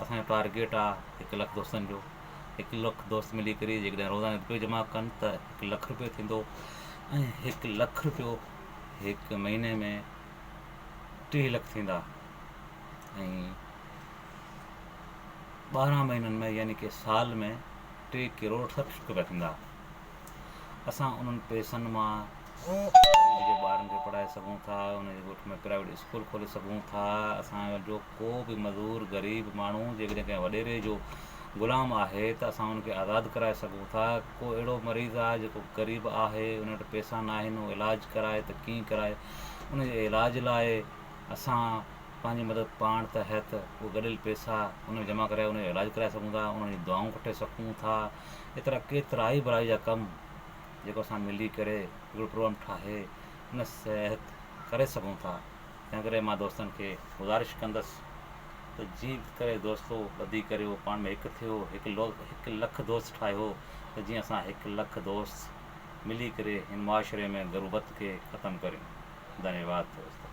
اسان جو ٽارگيٽ آ هڪ لک دوستن جو هڪ لک دوست ملي ڪري جيڪڏهن روزانو رپيو جمع ڪن ته هڪ لک رپيو ٿيندو ۽ هڪ لک رپيو هڪ مهيني ۾ ٽيهه لک ٿيندا ۽ ٻارهن مهينن ۾ يعني ڪي سال ۾ ٽي ڪروڙ سٺ لک رپيا ٿيندا اسان انهن پئسن مان ٻارن کي پڙهائي سگهون ٿا انهن جي ڳوٺ ۾ پرائيويٽ اسڪول کولي سگهون ٿا اسان جو ڪو به مزور، غريب، ماڻهو جيڪڏهن ڪنهن وڏيري جو غلام آهي ته اسان ان کي آزاد ڪرائي سگهون ٿا. ڪو اهڙو مريض آهي جيڪو غريب آهي، ان وٽ پئسا ناهن، اهو علاج ڪرائي ته ڪيئن ڪرائي؟ ان جي علاج لاء اسان پنهنجي مدد پاڻ ته هيت اهي گڏيل پئسا ان ۾ جمع ڪرائي ان جو علاج ڪرائي سگهون ٿا، انهن جون دعائون کٽي سگهون ٿا. ايترا ڪيترائي ڀلائي جا ڪم جيڪو اسان ملي ڪري هڪڙو پروگرام ٺاهي ان تحت ڪري سگهون ٿا. تنهن ڪري مان دوستن کي گذارش ڪندس ته جيئن ڪري دوستو ٻڌي ڪريو پاڻ ۾ هڪ ٿيو هڪ لو هڪ لک دوست ٺاهيو ته جيئن اسان هڪ لک دوست ملي ڪري هن معاشري ۾ غربت کي ختم ڪريون ڌنيواد دوستو.